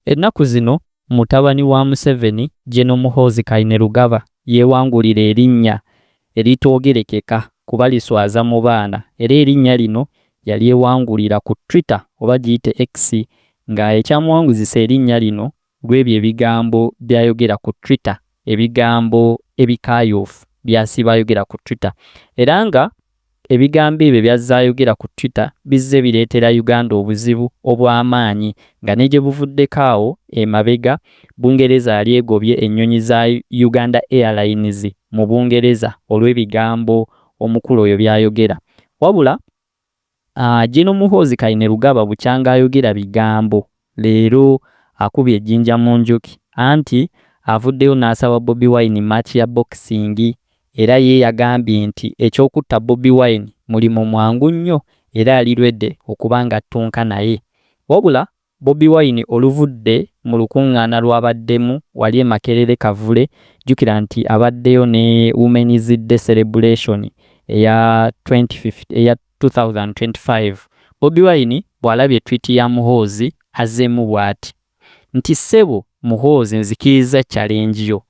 Ennaku zino mutabani wa Museveni General Muhoozi Kainerugaba yeewangulira erinnya eritoogerekeka kuba liswaza mu baana era erinnya lino yalyewangulira ku Twitter oba giyite X nga ekyamuwanguzisa erinnya lino lw'ebyo ebigambo by'ayogera ku Twitter ebigambo ebikaayuufu by'asiiba ayogera ku Twitter era nga Ebigambo ebyo by'azze ayogera ku Twitter bizze bireetera Uganda obuzibu obw'amaanyi nga ne gye buvuddeko awo emabega, Bungereza yali egobye ennyonyi za Uganda Airlines mu Bungereza olw'ebigambo omukulu oyo by'ayogera. Wabula Gen. Muhoozi Kainerugaba bukyanga ayogera bigambo Leero akubye ejjinja mu njuki anti avuddeyo n'asaba Bobi Wine match ya boxing era ye yagambye nti eky'okutta Bobi Wine mulimu mwangu nnyo era ali ready okuba ng'attunka naye. Wabula Bobi Wine oluvudde mu lukungaana lw'abaddemu wali e Makerere Kavule, jjukira nti abaddeyo ne Women's Day Celebration eya twenty fifty eya. 2025, Bobi Wine bw'alabye tweet ya Muhoozi azzeemu bwati nti Ssebo Muhoozi nzikirizza challenge yo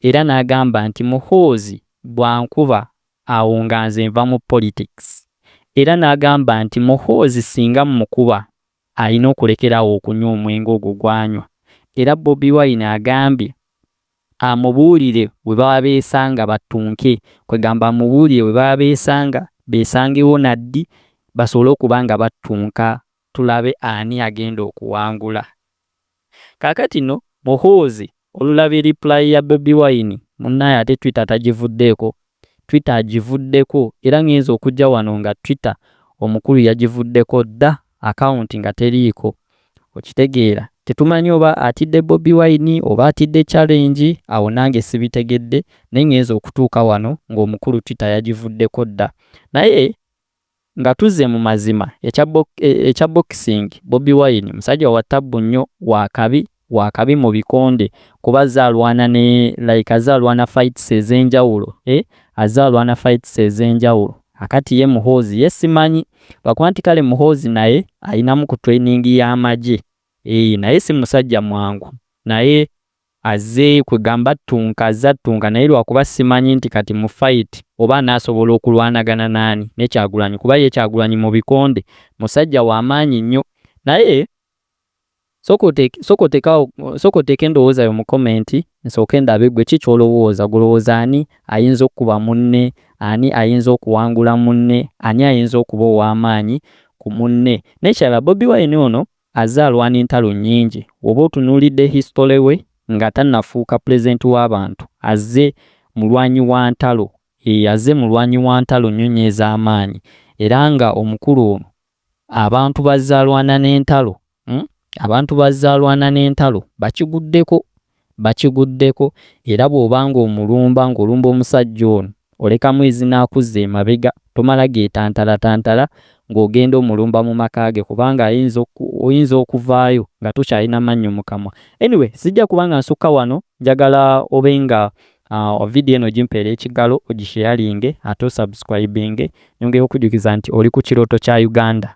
era n'agamba nti Muhoozi bw'ankuba awo nga nze nva mu politics era n'agamba nti Muhoozi singa mmukuba alina okulekera awo okunywa omwenge ogwo gw'anywa era Bobi Wine agambye Amubuulire we baba beesanga battunke, kwegamba amubuulire we baba beesanga beesangewo na ddi basobole okuba nga battunka tulabe ani agenda okuwangula. Kaakati nno Muhoozi olulabye reply ya Bobi Wine munnaye ate Twitter tagivuddeeko Twitter agivuddeko era ngenze okujja wano nga Twitter omukulu yagivuddeko dda account nga teriiko okitegeera tetumanyi oba atidde Bobi Wine oba atidde challenge awo nange sibitegedde naye ngenze okutuuka wano ng'omukulu Twitter yagivuddeko dda naye Nga tuzze mu mazima, ekya bo, e, ekya boxing, Bobi Wine musajja wa ttabbu nnyo, wa kabi, wa kabi mu bikonde, kuba azze alwana ne, like azze alwana fights ez'enjawulo, eh, azze alwana fights ez'enjawulo. Kaakati ye Muhoozi, ye simanyi, lwakuba nti kale Muhoozi naye alinamu ku training y'amagye, eh, naye si musajja mwangu. Naye. Azze kwegamba attunka azze attunka naye lwakuba simanyi nti kati mu fight oba anaasobola okulwanagana naani ne Kyagulanyi kuba ye Kyagulanyi mu bikonde musajja wa maanyi nnyo naye Sooka oteeke sooka oteeke awo sooka oteeke endowooza yo mu comment nsooke ndabe gwe ki ky'olowooza gwe olowooza ani ayinza okukuba munne ani ayinza okuwangula munne ani ayinza okuba ow'amaanyi ku munne n'ekirala Bobi Wine ono Azze alwana entalo nnyingi. Woba otunuulidde history we nga tanafuuka president wa bantu azze mulwanyi wa ntalo eeh azze mulwanyi wa ntalo nnyo nnyo ez'amaanyi era nga omukulu ono abantu bazze alwana n'entalo uhm abantu bazze alwana n'entalo bakiguddeko bakiguddeko era bw'oba ng'omulumba ng'olumba omusajja ono olekamu ezina akuzza emabega tomala geetantalatantala ng'ogenda omulumba mu maka ge kubanga ayinza oyinza okuvaayo nga tokyalina mannyo mu kamwa. Anyway sijja kuba nga nsukka wano njagala obe nga uh, vidiyo eno gimpeera ekigalo ogisheyalinge ate osubscribinge nyongera okujjukiza nti oli ku kirooto kya Uganda.